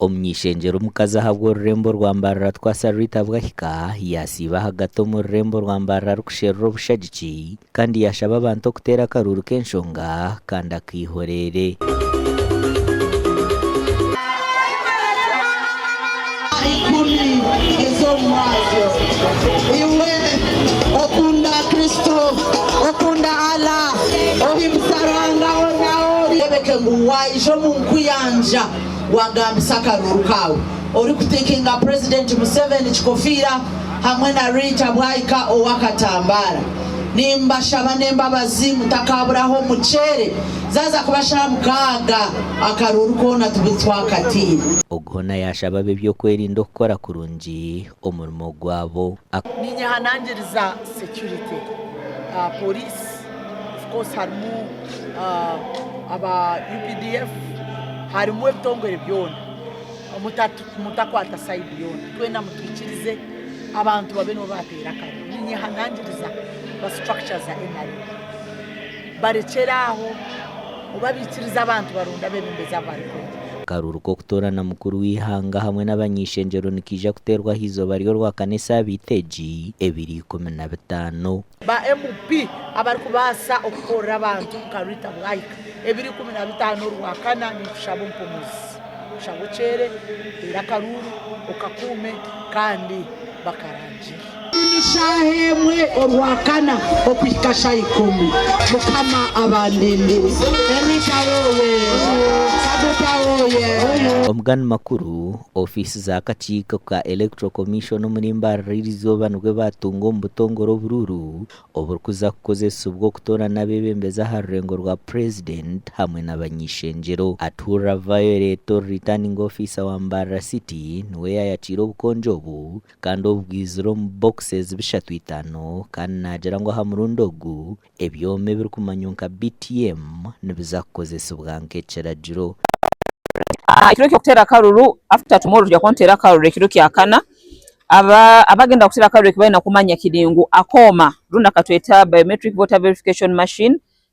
Omuny'ishengyero omukazi ahabwa orurembo rwa mbarara Twasa Rita Bwahika yaasiiba ahagati omu rurembo rwa mbarara arikusherura obushagiki kandi yaashaba abantu okuteera akaruuru k'enshonga kandi akaihoreere. Ikumi ez'omu mwazyo. Iwe okunda Kristo, okunda Allah, ohimbisa Ruhanga hoona ahu ori. Oreebeke ngu waija omu nkuyanja waagambisa akaruuru kaawe orikutiikinga Purezidenti Museveni kikofiira hamwe na Rita Bwaika ow'akatambaara. Nimbashaba n'embabazi mutakaaburaho muceere Zaaza kuba shaaha mukaaga akaruuru koona tube twakataire. Ogwo hoona yaashaba ab'eby'okwerinda okukora kurungi omurimo gwabo. A. Niinye aha nangiriza security, police, of course harimu aba updf, harimu ebitongore byoona, mutakwata side yoona, twena mutwikirize abantu babe nibo bateera akareeba. Niinye aha nangiriza ba structure za nrm. Barekyere aho oba baikirize abantu baronde abebembezi abu barikwenda. Akaruru k'okutoorana mukuru w'eihanga hamwe n'abany'eishengyero nikaija kuteerwa aha izooba ry'orwakana esaabiiti egi, ebiro ikumi na bitaano. Ba MP abarikubaasa okukorera abantu nka Rita Bwahika ebiro ikumi na bitaano orwakana ninkushaba ompomozi kushaba okyeere, oteere akaruuru, okakuume kandi bakarangye. Buri shaaha emwe orwakana okuhika sha ikumi. Mukama abandindire. Enita oye! Kaguta oye! Omu gandi makuru, ofiisi z'akakiiko ka Electoral Commission omuri Mbarara iri izooba nibwo baatunga omu butongore oburuuru oburikuza kukozesibwa okutoorana abeebembezi aha rurengo rwa Purezidenti hamwe n'abany'eishengyero. Atuura Violet Returning Officer wa Mbarara City niwe yaayakiire obukonjo obu, kandi obu bwaizire omu boxes bishatu itano kandi nagira ngu aha murundi ogu ebyoma ebirikumanywa nka BTM nibiza kukozesibwa nk'ekiragiro. Ekiro ky'okuteera akaruru, after tomorrow tugya kuba nituteera akaruru ekiro kya kana, aba abagenda kuteera akaruru ekibarenda kumanya kiri ngu akooma rundi akatweta biometric voter verification machine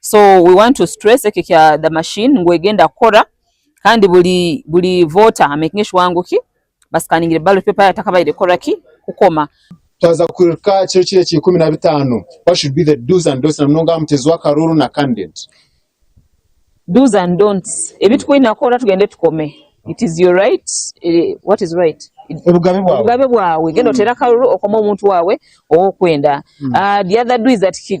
so we want to stress ekyo kya the machine ngu egenda kukora kandi buri buri voter a making sure ngu ki ba scaningire ballot paper yaayo takabaire kukora ki kukoma. Twaza kuhika kiro kiri ekya ikumi na bitaano what should be the do's and don'ts na munonga aha muteezi w'akaruuru na candidate? Do's and don'ts ebi tukwine kukora tugende tukome it is your right what is right Obugabe bwawe. obugabe bwawe genda oteere akaruuru okome omuntu waawe owokwenda. The other do is that ki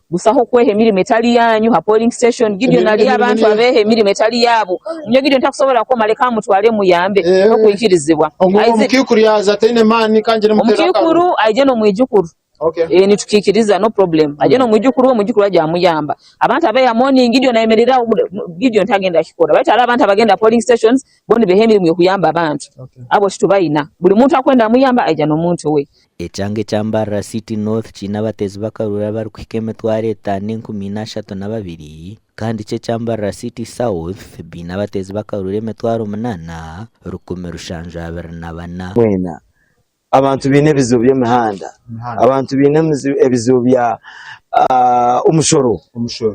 Busaho kweha emirimo etari yaanyu ha polling station. Gideon ari aha bantu abeeha emirimo etari yaabo. Nyowe Gideon takusobora kukoma leka mmutware mmuyambe. N'okwikirizibwa. Isaac, Omukaikuru aije n'omwijukuru. Ee, nitukiikiriza, no problem. Aije n'omwijukuru we, omwijukuru we aryamuyamba. Abantu abeeha morning, Gideon ayemerera aho. Gideon tagenda kukikora. Baitu hariho abantu abagenda aha polling stations, bo nibeeha emirimo y'okuyamba abantu. Abo titubaine. Buri muntu akwenda muyamba, aija n'omuntu we. Ekyanga ekya Mbarara City North kiine abatezi b'akaruru abarikuhika emitwaro etaano enkumi ina ashatu na babiri kandi kyo ekya Mbarara City South baine abatezi b'akaruru emitwaro munana rukumi rushanju abiri na bana. Mwena, abantu baine ebizibu by'emihanda, abantu baine ebizibu bya omushoro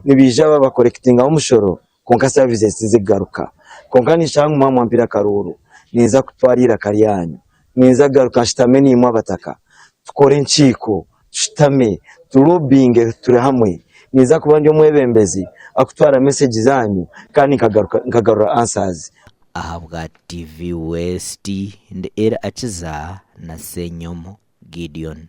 nibaija babakorekitingaho omushoro kwonka services tizikugaruka kwonka ninshusha ngu mwaaba mwampire akaruuru ninza kutwaara eiraka ryaanyu ninza kugaruka nshutame naimwe abataka tukore enkiiko tushutame tu lobbyinge turi hamwe ninza kuba ndi omwebembezi arikutwaara message zaanyu kandi nkagaruka nkagarura answers. Ahabwa TV West ndi Ira Akiza na Senyomo Gideon.